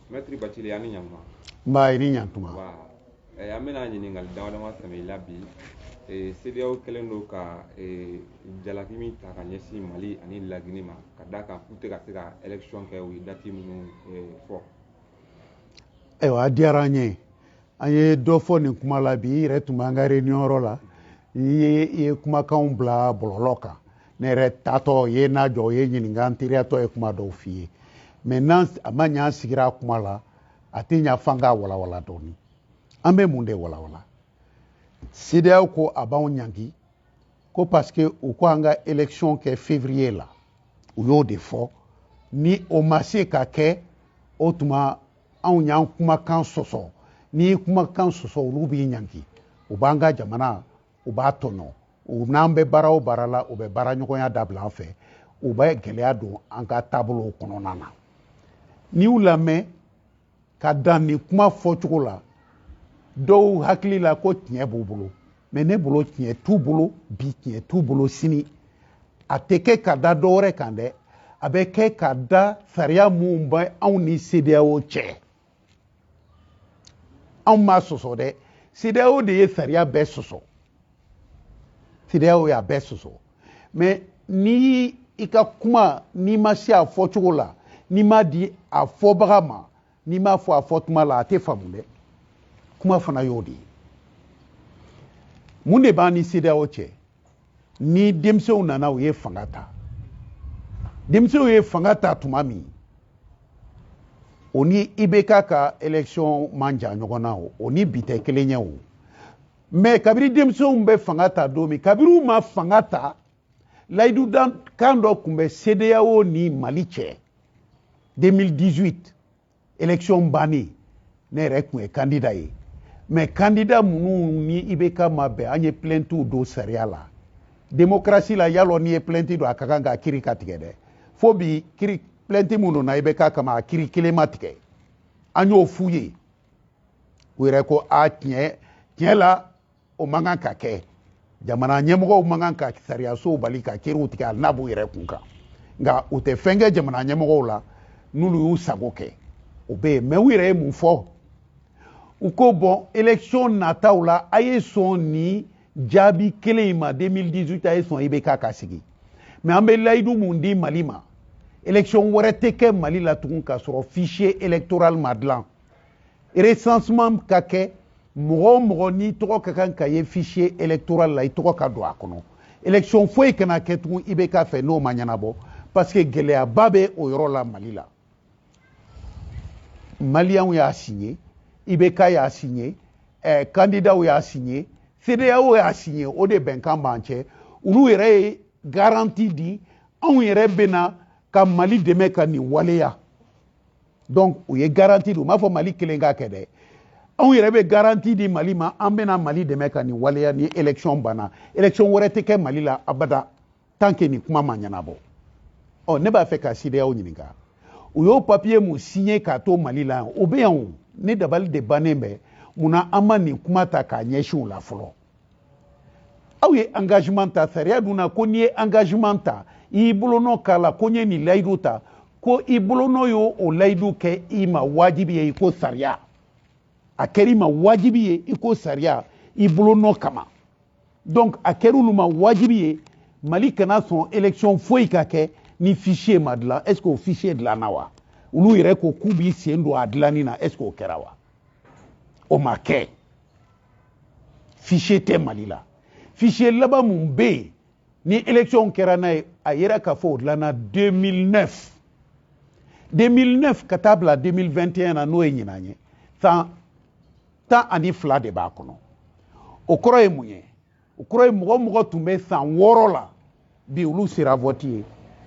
mɛtiri bacili a ni ɲantuma nba i ni ɲantuma eh, an bɛna ɲininkali dama dama tɛmɛ i la bi eh, cedeao kɛlen don ka eh, jalaki min ta ka ɲɛsin mali ani lagini ma ka d'a kan k'u tɛ ka se ka election kɛ u ye dati minnu fɔ ayiwa a diyara an ye an ye dɔ fɔ nin kuma la bi i yɛrɛ tun b'an ka réunion yɔrɔ la i ye kumakanw bila bɔlɔlɔ kan ne yɛrɛ taatɔ i ye n lajɔ i ye n ɲininka n teriyatɔ ye kuma dɔw f'i ye maintenant a ma ɲɛ an sigira a kuma la a tɛ ɲa f'an k'a walawala dɔɔni an bɛ mun de walawala cedeao ko a b'anw ɲangi ko parce que u ko an ka election kɛ février la u y'o de fɔ ni o ma se ka kɛ o tuma anw y'an kumakan sɔsɔ n'i kumakan sɔsɔ olu b'i ɲangi u b'an ka jamana u b'a tɔɲɔ u n'an bɛ baara o baara la u bɛ baara ɲɔgɔnya dabila an fɛ u bɛ gɛlɛya don an ka taabolow kɔnɔna na n'i y'u lamɛn ka dan nin kuma fɔcogo la dɔw hakili la ko tiɲɛ b'u bolo mais ne bolo tiɲɛ t'u bolo bi tiɲɛ t'u bolo sini a tɛ kɛ ka da dɔ wɛrɛ kan dɛ a bɛ kɛ ka da sariya minnu bɛ anw ni cedeao cɛ anw m'a sɔsɔ dɛ cedeao de ye sariya bɛɛ sɔsɔ cedeao y'a bɛɛ sɔsɔ mais ni i ka kuma n'i ma se a fɔcogo la n'i m'a di a fɔbaga ma n'i m'a fɔ a fɔ tuma la a tɛ faamu dɛ kuma fana y'o de ye mun de b'an ni cedeao cɛ ni denmisɛnw nana u ye fanga ta denmisɛnw ye fanga ta tuma min o ni ibk ka election man jan ɲɔgɔn na o o ni bi tɛ kelen ye o mais kabiri denmisɛnw bɛ fanga ta don min kabiri u ma fanga ta layidukan dɔ tun bɛ cedeao ni mali cɛ 2018 election bannen ne yɛrɛ tun ye kandida ye mais kandida minnu ni ibk ma bɛn an ye plɛntiw don sariya la demokarasi la yalɔ n'i ye plɛnti don a ka kan k'a kiri ka tigɛ dɛ fo bi kiri plɛnti minnu donna ibk kama a kiri kelen ma tigɛ an y'o f'u ye u yɛrɛ ko a tiɲɛ tiɲɛ la o man kan ka kɛ jamana ɲɛmɔgɔw man kan ka sariyasow bali ka kiriw tigɛ hali n'a b'u yɛrɛ kun kan nka u tɛ fɛn kɛ jamana ɲɛmɔgɔw la n'olu y'u sago kɛ o bɛ yen mais u yɛrɛ ye mun fɔ u ko bon election nataw la a ye sɔn nin jaabi kelen in ma 2018 a ye sɔn ibk ka sigi mais an bɛ layidu mun di mali ma election wɛrɛ tɛ kɛ mali la tugun k'a sɔrɔ fichier électoral ma dilan recensement ka kɛ mɔgɔ o mɔgɔ n'i tɔgɔ ka kan ka ye fichier électoral la i tɔgɔ ka don a kɔnɔ élection foyi kana kɛ tugun ibk fɛ n'o ma ɲɛnabɔ parce que gɛlɛyaba bɛ o yɔrɔ la mali la maliyɛnw y'a signé ibk y'a signé eh, kandidaw y'a signé CEDEAO y'a signé o de bɛnkan b'an cɛ olu yɛrɛ ye garanti di anw yɛrɛ bɛna ka mali dɛmɛ ka nin waleya donc u ye garanti di u m'a fɔ mali kelen k'a kɛ dɛ anw yɛrɛ bɛ garanti di mali ma an bɛna mali dɛmɛ ka nin waleya ni élection banna élection wɛrɛ tɛ kɛ mali la abada tant que nin kuma ma ɲɛnabɔ ɔ ne b'a fɛ ka CEDEAO ɲininka u y'o papiye mun signé k'a to mali la yan o bɛ yan o ne dabali de bannen bɛ mun na an ma nin kuma ta k'a ɲɛsin u la fɔlɔ aw ye engagement ta sariya dun na ko n'i ye engagement ta i y'i bolonɔ k'a la ko n ye nin layidu ta ko i bolonɔ y'o o layidu kɛ i ma wajibi ye i ko sariya a kɛra i ma wajibi ye i ko sariya i bolonɔ kama donc a kɛra olu ma wajibi ye mali kana sɔn élection foyi ka kɛ ni fichier ma dilan est ce que o fichier dilanna wa olu yɛrɛ ko k'u b'i sen don a dilanni na est ce que o kɛra wa o ma kɛ fichier tɛ mali la fichier laban mun bɛ yen ni élection kɛra n'a ye a yera k'a fɔ o dilanna 2009 2009 ka taa bila 2021 na n'o ye ɲinan ye san tan ani fila de b'a kɔnɔ o kɔrɔ ye mun ye o kɔrɔ ye mɔgɔ o mɔgɔ tun bɛ san wɔɔrɔ la bi olu sera vɔti ye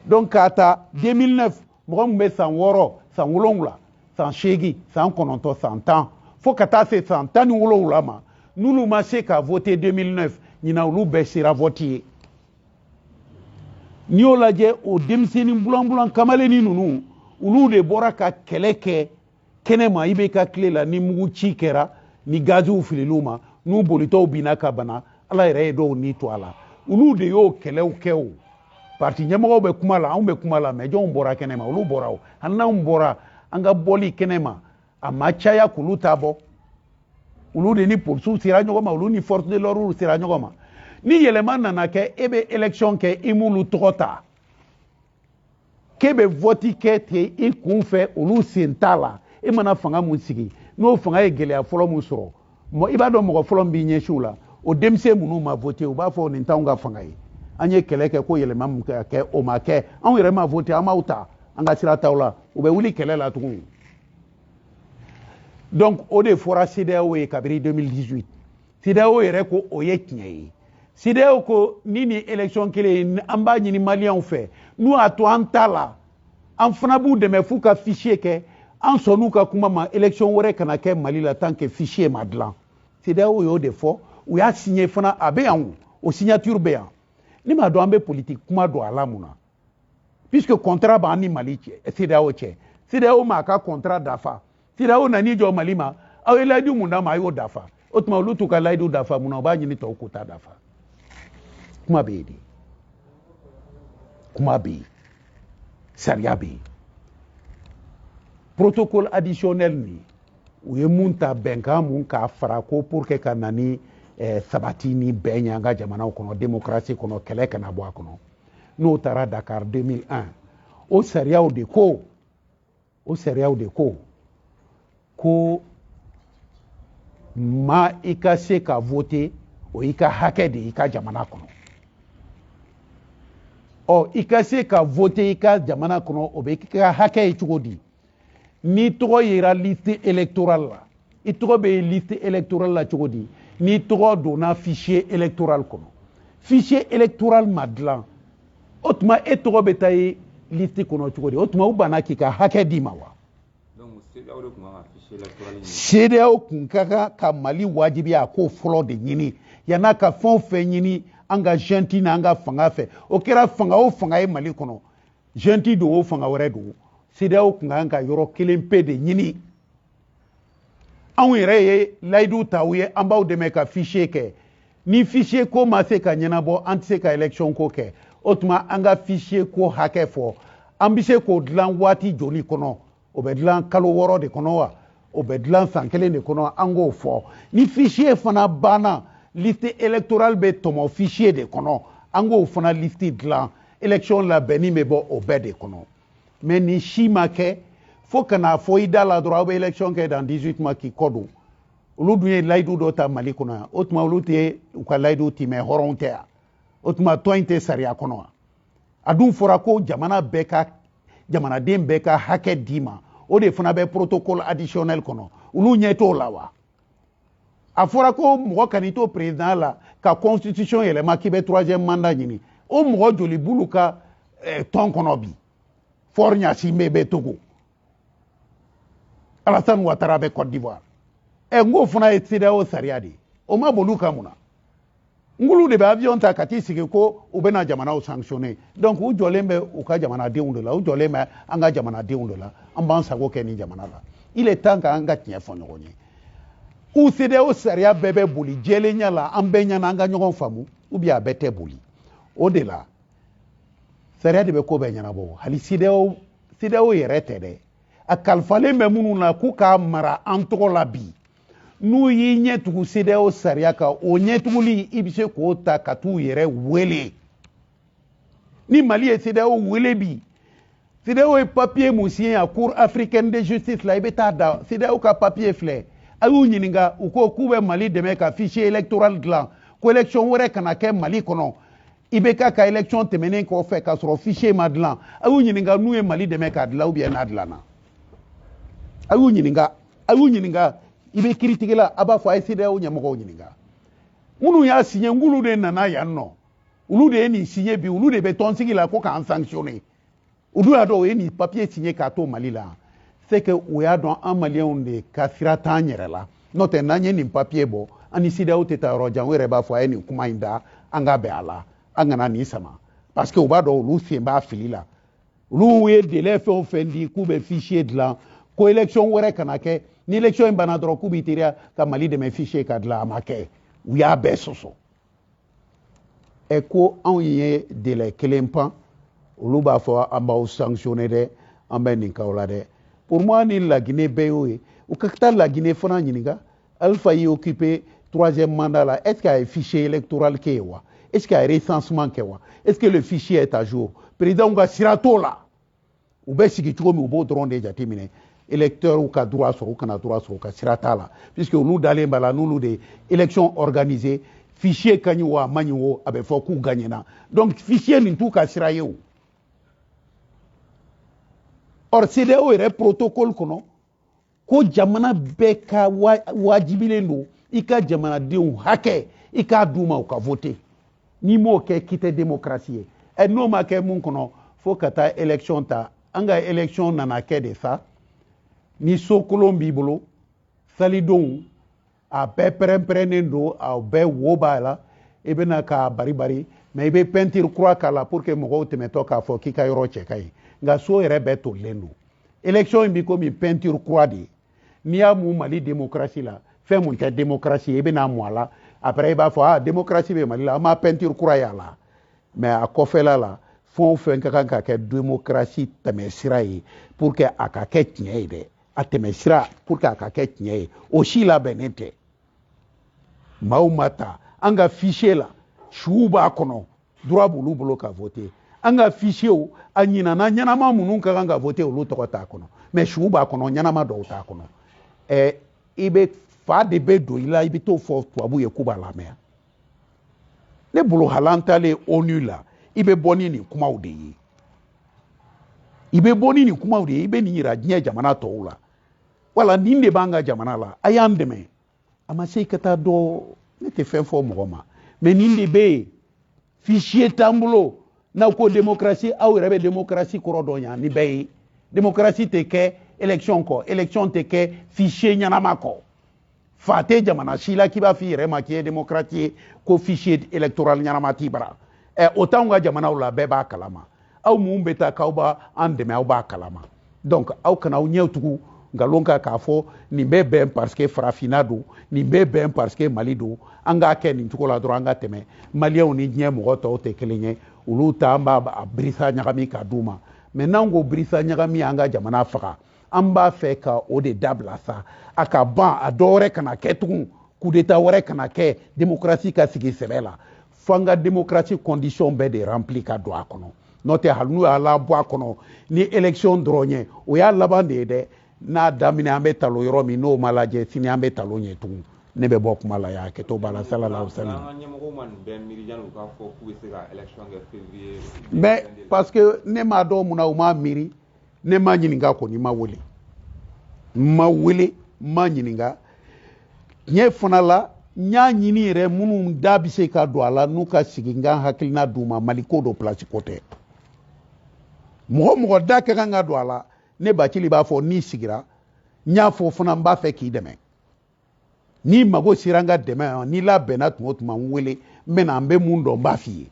donc k'a ta 2009 mɔgɔ min bɛ san wɔɔrɔ san wolonwula san seegin san kɔnɔntɔn san tan fo ka taa se san tan ni wolonwula ma n'olu ma se ka vote 2009 ɲinan olu bɛɛ sera vɔti ye n'i y'o lajɛ o denmisɛnnin bulanbulan kamalennin ninnu olu de bɔra ka kɛlɛ kɛ kɛnɛma ibk tile la ni mugu ci kɛra ni gaziw filil'u ma n'u bolitɔw binna ka bana ala yɛrɛ ye dɔw ni to a la olu de y'o kɛlɛw kɛ o parti ɲɛmɔgɔw bɛ kuma la anw bɛ kuma la mais jɔnw bɔra kɛnɛma olu bɔra o hali n'anw bɔra an ka bɔli kɛnɛma a ma caya k'olu ta bɔ olu de ni polisiw sera ɲɔgɔn ma olu ni force de l'ordre sera ɲɔgɔn ma ni yɛlɛma nana kɛ e bɛ élection kɛ i m'olu tɔgɔ ta k'e bɛ vɔti kɛ ten i kun fɛ olu sen t'a la e mana fanga mun sigi n'o fanga ye gɛlɛya fɔlɔ mun sɔrɔ i b'a dɔn mɔgɔ fɔlɔ min b'i ɲɛsin u la o denmisɛn minnu ma vote u b'a fɔ nin t'anw ka fanga ye an ye kɛlɛ kɛ ko yɛlɛma mun ka kɛ o ma kɛ anw yɛrɛ ma vote an m'aw ta an ka sira t'aw la u bɛ wuli kɛlɛ la tugun donc o de fɔra CEDEAO ye kabiri 2018 CEDEAO yɛrɛ ko o ye tiɲɛ ye CEDEAO ko ni nin élection kelen an b'a ɲini maliyɛnw fɛ n'u y'a to an t'a la an fana b'u dɛmɛ f'u ka fichier kɛ an sɔnn'u ka kuma ma élection wɛrɛ kana kɛ mali la tant que fichier ma dilan CEDEAO y'o de fɔ u y'a signé fana a bɛ yan o signature bɛ yan ne m'a dɔn an bɛ politique kuma don a la mun na puisque contrat b'an ni mali cɛ eh, CEDEAO cɛ CEDEAO m'a ka contrat dafa CEDEAO nan'i jɔ mali ma aw ye layidu mun d'a ma a y'o dafa o tuma olu t'u ka layidu dafa mun na u b'a ɲini tɔw k'u ta dafa kuma bɛ yen de kuma bɛ yen sariya bɛ yen protocole additionnel nin u ye mun ta bɛnkan mun k'a fara ko pour que ka na ni eh, sabati ni bɛn ye an ka jamanaw kɔnɔ démocratie kɔnɔ kɛlɛ kana bɔ a kɔnɔ n'o taara dakari 2001 o sariyaw de ko o sariyaw de ko ko ma i ka se ka voter o y'i ka hakɛ de i ka jamana kɔnɔ ɔ i ka se ka voter i ka jamana kɔnɔ o bɛ k'i ka hakɛ ye cogo di n'i tɔgɔ yera liste électorale la i tɔgɔ bɛ ye liste électorale la cogo di n'i tɔgɔ donna fichier électoral kɔnɔ fichier électoral ma dilan o tuma e tɔgɔ bɛ taa ye liste kɔnɔ cogo di o tuma u banna k'i ka hakɛ d'i ma wa CEDEAO kun ka kan ka mali wajibiya a k'o fɔlɔ de ɲini yann'a ka fɛn o fɛn ɲini an ka junte n'an ka fanga fɛ o kɛra fanga o fanga ye mali kɔnɔ junte don o fanga wɛrɛ don CEDEAO kun kan ka yɔrɔ kelen pe de ɲini anw yɛrɛ ye layidu ta aw ye an b'aw dɛmɛ ka fichier kɛ ni fichier ko ma se ka ɲɛnabɔ an tɛ se ka élection ko kɛ o tuma an ka fichier ko hakɛ fɔ an bɛ se k'o dilan waati joli kɔnɔ o bɛ dilan kalo wɔɔrɔ de kɔnɔ wa o bɛ dilan san kelen de kɔnɔ an k'o fɔ ni fichier fana banna liste électorale bɛ tɔmɔ fichier de kɔnɔ an k'o fana liste dilan élection labɛnni bɛ bɔ o bɛɛ de kɔnɔ mais nin si ma kɛ fo ka n'a fɔ i da la dɔrɔn aw bɛ élection kɛ dans 18 mois k'i kɔ don olu dun ye layidu dɔ ta mali kɔnɔ yan o tuma olu tɛ u ka layidu timɛ hɔrɔnw tɛ yan o tuma tɔn in tɛ sariya kɔnɔ wa a dun fɔra ko jamana bɛɛ ka jamanaden bɛɛ ka hakɛ d'i ma o de fana bɛ protocole additionnel kɔnɔ olu ɲɛ t'o la wa a fɔra ko mɔgɔ kan'i to président la ka constitution yɛlɛma k'i bɛ troisième mandat ɲini o mɔgɔ joli b'olu ka eh, tɔn kɔnɔ bi faure gnassingbé bɛ togo alassane ouattara bɛ côte d'ivoire ɛ eh, n k'o fana ye CEDEAO sariya de ye o ma boli u kan mun na ninnu de bɛ avion ta ka t'i sigi ko u bɛna jamanaw sanctionner donc u jɔlen bɛ u ka jamanadenw de la u jɔlen bɛ an ka jamanadenw de la an b'an sago kɛ nin jamana la il est temps ka an ka tiɲɛ fɔ ɲɔgɔn ye ou CEDEAO sariya bɛɛ bɛ boli jɛlenya la an bɛɛ ɲɛna an ka ɲɔgɔn faamu ou bien a bɛɛ tɛ boli o de la sariya de bɛ ko bɛɛ ɲɛnabɔ hali CEDEAO CEDEAO yɛrɛ tɛ dɛ a kalifalen bɛ minnu na k'u k'a mara an tɔgɔ la bi n'u y'i ɲɛ tugu CEDEAO sariya kan o ɲɛtuguli i bɛ se k'o ta ka t'u yɛrɛ wele ni Mali ye CEDEAO wele bi CEDEAO ye papiye mun siɲɛ yan Cour africaine de justice la i bɛ t'a da CEDEAO ka papiye filɛ a y'u ɲininka u ko k'u bɛ Mali dɛmɛ ka fichier électoral dilan ko élection wɛrɛ kana kɛ Mali kɔnɔ IBK ka élection tɛmɛnen kɔfɛ k'a sɔrɔ fichier ma dilan a y'u ɲininka n'u ye Mali dɛmɛ k'a dilan ou bien n'a dilanna a y'u ɲininka a y'u ɲininka i bɛ kiritigɛla a b'a fɔ a ye CEDEAO ɲɛmɔgɔw ɲininka minnu y'a siɲɛ ninnu de nana yan nɔ olu de ye nin siɲɛ bi olu de bɛ tɔnsigi la ko k'an sanctionner u dun y'a dɔn u ye nin papiye siɲɛ k'a to mali la c'est que u y'a dɔn an maliyɛnw de ka sira t'an yɛrɛ la n'o tɛ n'an ye nin papiye bɔ an ni CEDEAO tɛ taa yɔrɔ jan u yɛrɛ b'a fɔ a ye nin kuma in da an ka bɛn a la an kana nin sama parce que u b'a dɔn olu sen b'a fili la olu ye délai fɛn o fɛn di k'u bɛ fichier dilan ko élection wɛrɛ kana kɛ ni élection in banna dɔrɔn k'u b'i teliya ka mali dɛmɛ fichier ka dilan a ma kɛ u y'a bɛɛ sɔsɔ ɛ ko anw ye délai kelen pan olu b'a fɔ an b'aw sanctionner dɛ an bɛ nin k'aw la dɛ pour moi ni laginɛ bɛɛ y'o ye u ka taa laginɛ fana ɲininka Alpha y'i occupé troisième mandat la, est-ce qu'a ye fichier électoral kɛ wa Est-ce qu'a ye recensement kɛ wa Est-ce que le fichier est à jour Président ka sira t'o la u bɛ sigi cogo min u b'o dɔrɔn de jateminɛ électeurw ka droit sɔrɔ u kana droit sɔrɔ u ka sira t'a la puisque olu dalen b'a la n'olu de élection organisé fichier ka ɲi wo a man ɲi wo a bɛ fɔ k'u gagnena donc fichier nin t'u ka sira ye o or CEDEAO yɛrɛ protocole kɔnɔ ko jamana bɛɛ ka wajibilen don i ka jamanadenw hakɛ i k'a d'u ma u ka vote n'i m'o kɛ k'i tɛ demokarasi ye ɛ n'o ma kɛ mun kɔnɔ fo ka taa élection ta an ka élection nana kɛ de sa ni so kolon b'i bolo salidonw a bɛɛ pɛrɛnpɛrɛnnen don a bɛɛ wo b'a la i bɛ na k'a bari bari mais i bɛ pɛntiri kura k'a la pour que mɔgɔw tɛmɛtɔ k'a fɔ k'i ka yɔrɔ cɛ ka ɲi nka so yɛrɛ bɛɛ tolilen don élection in bi komi pɛntiri kura de ye n'i y'a mun mali demokarasi la fɛn mun tɛ demokarasi ye i bɛn'a mun a la après i b'a fɔ ah demokarasi bɛ mali la an ma pɛntiri kura y'a la mais a kɔfɛla la fɛn o fɛn ka kan ka kɛ demokarasi tɛmɛsira ye pour que a ka kɛ tiɲɛ ye dɛ a tɛmɛ sira pour que a ka kɛ tiɲɛ ye o si labɛnnen tɛ maaw ma ta an ka fichier la suw b'a kɔnɔ droit b'olu bolo ka voter an ka fichier a ɲinana ɲɛnama minnu ka kan ka voter olu tɔgɔ t'a kɔnɔ mais suw b'a kɔnɔ ɲɛnama dɔw t'a kɔnɔ ɛ i bɛ fa de bɛ don i la i bɛ t'o fɔ tubabu ye k'u b'a lamɛn ne bolo hali an taalen ONU la i bɛ bɔ ni nin kumaw de ye i bɛ bɔ ni nin kumaw de ye i bɛ nin yira diɲɛ jamana tɔw la wala nin de b'an ka jamana la a y'an dɛmɛ a ma se i ka taa dɔ ne tɛ fɛn fɔ mɔgɔ ma mais nin de bɛ yen fichier t'an bolo n'aw ko démocratie aw yɛrɛ bɛ démocratie kɔrɔ dɔn yan ni bɛɛ ye démocratie tɛ kɛ élection kɔ élection tɛ kɛ fichier ɲɛnama kɔ fa tɛ jamana si la k'i b'a f'i yɛrɛ ma k'i ye démocrate ye ko fichier électoral ɲɛnama t'i bara ɛ eh, o t'anw ka jamanaw la bɛɛ b'a kalama aw mun bɛ taa k'aw b'an dɛmɛ aw b'a kalama donc aw kana aw ɲɛw tugu nkalon kan k'a fɔ nin bɛ bɛn parce que farafinna don nin bɛ bɛn parce que mali don an k'a kɛ nin cogo la dɔrɔn an ka tɛmɛ maliyɛnw ni diɲɛ mɔgɔ tɔw tɛ kelen ye olu ta an b'a birisa ɲagami k'a d'u ma mais n'an ko birisa ɲagami an ka jamana faga an b'a fɛ ka o de dabila sa a ka ban a dɔ wɛrɛ kana kɛ tugun coup d'état wɛrɛ kana kɛ démocratie ka sigi sɛbɛ la fo an ka démocratie condition bɛɛ de remplir ka don a kɔnɔ n'o tɛ hali n'u y'a labɔ a kɔnɔ ni élection dɔrɔn ye o y'a laban de ye dɛ n'a daminɛ an bɛ talon yɔrɔ min n'o ma lajɛ sini an bɛ talon yen tugun ne bɛ bɔ kuma la yan hakɛto b'a la sallallahu alaihi wa sallam mais parce que ne m'a dɔn mun na u m'a miiri ne ma ɲininka kɔni n ma wele n ma wele n ma ɲininka tiɲɛ fana la n y'a ɲini yɛrɛ minnu da bɛ se ka don a la n'u ka sigi n ka hakilina d'u ma mali ko don place ko tɛ mɔgɔ o mɔgɔ da ka kan ka don a la ne bacili b'a fɔ n'i sigira n y'a fɔ fana n b'a fɛ k'i dɛmɛ n'i mago sera n ka dɛmɛ ma n'i labɛnna tuma o tuma n wele n bɛ na n bɛ mun dɔn n b'a f'i ye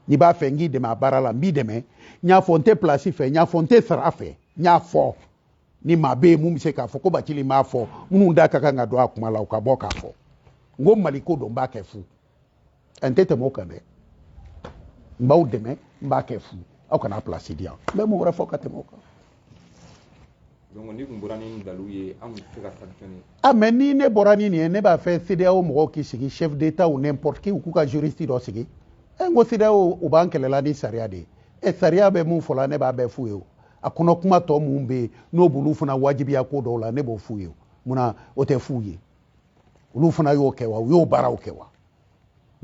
n'i b'a fɛ n k'i dɛmɛ a baara la n b'i dɛmɛ n y'a fɔ n tɛ place fɛ n y'a fɔ n tɛ sara fɛ n y'a fɔ ni maa bɛ yen mun bɛ se k'a fɔ ko bacili m'a fɔ minnu da ka kan ka don a kuma la u ka bɔ k'a fɔ n ko mali ko don n b'a kɛ fu n tɛ tɛmɛ o kan dɛ n b'aw dɛmɛ n b'a kɛ fu aw kana place di yan n bɛ mun wɛrɛ fɔ ka tɛmɛ o kan donc n'i tun bɔra ni nin daluw ye an tun tɛ se ka sanctionner ah mais ni ne bɔra ni nin ye ne b'a fɛ CEDEAO mɔgɔw k'i sigi chef d'état ou n'importe qui u k'u ka juriste dɔ sigi e n ko CEDEAO u b'an kɛlɛla ni sariya de ye e sariya bɛ mun fɔla ne b'a bɛɛ f'u ye o a kɔnɔ kuma tɔ mun bɛ yen n'o b'olu fana wajibiya ko dɔw la ne b'o f'u ye o munna o tɛ f'u ye olu fana y'o kɛ wa u y'o baaraw kɛ wa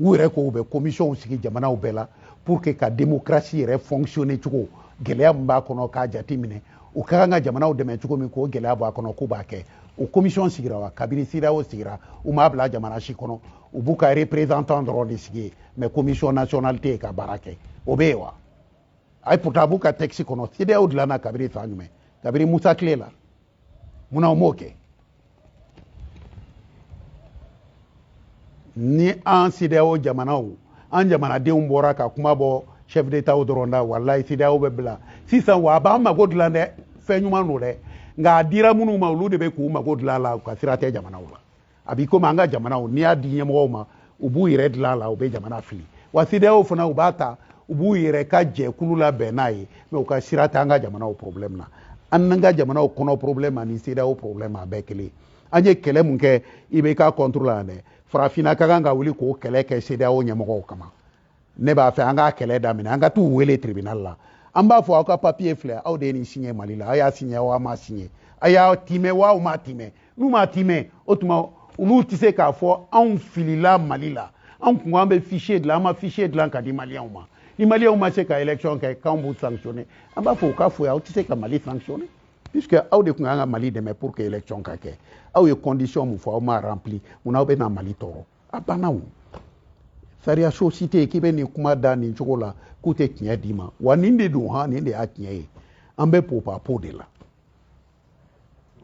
u yɛrɛ ko u bɛ komisiyɔnw sigi jamanaw bɛɛ la pour que ka demokarasi yɛrɛ fonctionner cogo gɛlɛya min b'a kɔnɔ k'a jate minɛ u ka kan ka jamanaw dɛmɛ cogo min k'o gɛlɛya bɔ a kɔnɔ k'u b'a kɛ o komisiyɔn sigira wa kabini CEDEAO sigira u m'a bila jamana si kɔnɔ u b'u ka représentant dɔrɔn de sigi yen mais komisiyɔn nationale tɛ yen ka baara kɛ o bɛ yen wa ayi pourtant a b'u ka texte kɔnɔ CEDEAO dilanna kabini san jumɛn kabini musa tile la munna u m'o kɛ ni an CEDEAO jamanaw an jamanadenw bɔra ka kuma bɔ chef d'étatw dɔrɔn da walayi CEDEAO bɛ bila sisan wa a b'an mago dilan dɛ fɛn ɲuman don dɛ nka a dira minnu ma olu de bɛ k'u mago dilan a la u ka sira tɛ jamanaw la a b'i komi an ka jamanaw n'i y'a di ɲɛmɔgɔw ma u b'u yɛrɛ dilan a la u bɛ jamana fili wa CEDEAO fana u b'a ta u b'u yɛrɛ ka jɛkulu labɛn n'a ye mais u ka sira t'an ka jamanaw problème na an n'an ka jamanaw kɔnɔ problème ani CEDEAO problème a bɛɛ kelen an ye kɛlɛ mun kɛ IBK contre la yan dɛ farafinna ka kan ka wuli k'o kɛlɛ kɛ CEDEAO ɲɛmɔgɔw kama ne b'a fɛ an k'a kɛlɛ daminɛ an ka t'u wele tribunal la an b'a fɔ aw ka papiye filɛ aw de ye nin siɲɛ mali la aw y'a siɲɛ wa aw m'a siɲɛ a y'a timɛ wa aw m'a timɛ n'u m'a timɛ o tuma olu tɛ se k'a fɔ anw filila mali la anw ko an bɛ fichier dilan an ma fichier dilan ka di maliyɛnw ma ni maliyɛnw ma se ka élection kɛ k'anw b'u sanctionner an b'a fɔ u ka foyi aw tɛ se ka mali sanctionner puisque aw de tun kan ka mali dɛmɛ pour que élection ka kɛ aw ye condition mun fɔ aw m'a rempli mun na aw bɛ na mali tɔɔrɔ a banna o sariya so si tɛ k'i bɛ nin kuma da nin cogo la k'u tɛ tiɲɛ d'i ma wa nin de don han nin de y'a tiɲɛ ye an bɛ popapo de la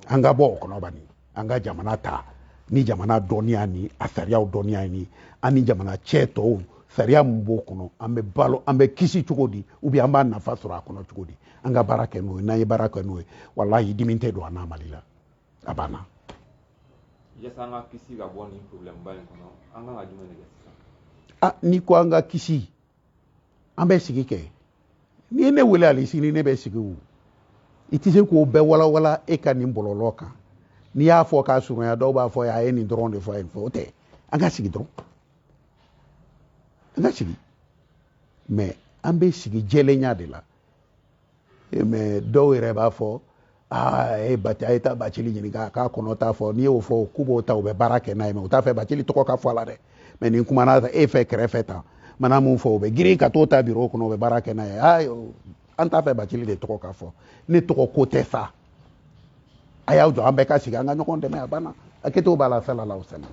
an ka bɔ o kɔnɔ bani an ka jamana ta ni jamana dɔnniya ni a sariyaw dɔnniya ni an ni jamana cɛ tɔw sariya min b'o kɔnɔ an bɛ balo an bɛ kisi cogo di ou bien an b'a nafa sɔrɔ a kɔnɔ cogo di an ka baara kɛ n'o ye n'an ye baara kɛ n'o ye walahi dimi tɛ don an na mali la a banna yasa an ka kisi ka bɔ nin problème ba in kɔnɔ an kan ka jumɛn de kɛ sisan a n'i ko an ka kisi an bɛ sigi kɛ n'i ye ne wele ali sini ne bɛ sigi o i tɛ se k'o bɛɛ walawala e ka nin bɔlɔlɔ kan n'i y'a fɔ k'a surunya dɔw b'a fɔ a ye nin dɔrɔn de fɔ a ye nin fɔ o tɛ an ka sigi dɔrɔn an ka sigi mais an bɛ sigi jɛlenya de la mais dɔw yɛrɛ b'a fɔ aa e bati a ye taa bacili ɲininka k'a kɔnɔ ta fɔ n'i y'o fɔ k'u b'o ta u bɛ baara kɛ n'a ye mais u t'a fɛ bacili tɔgɔ ka fɔ a la dɛ mais ni n kumana e fɛ kɛrɛfɛ tan n mana mun fɔ u bɛ girin ka t'o ta biro kɔnɔ u bɛ baara kɛ n'a ye aa an t'a fɛ bacili de tɔgɔ ka fɔ ne tɔgɔ ko tɛ sa a y'aw jɔ an bɛɛ ka sigi an ka ɲɔgɔn dɛmɛ a banna a kɛtɔw b'a la sallallahu alaihi wa sallam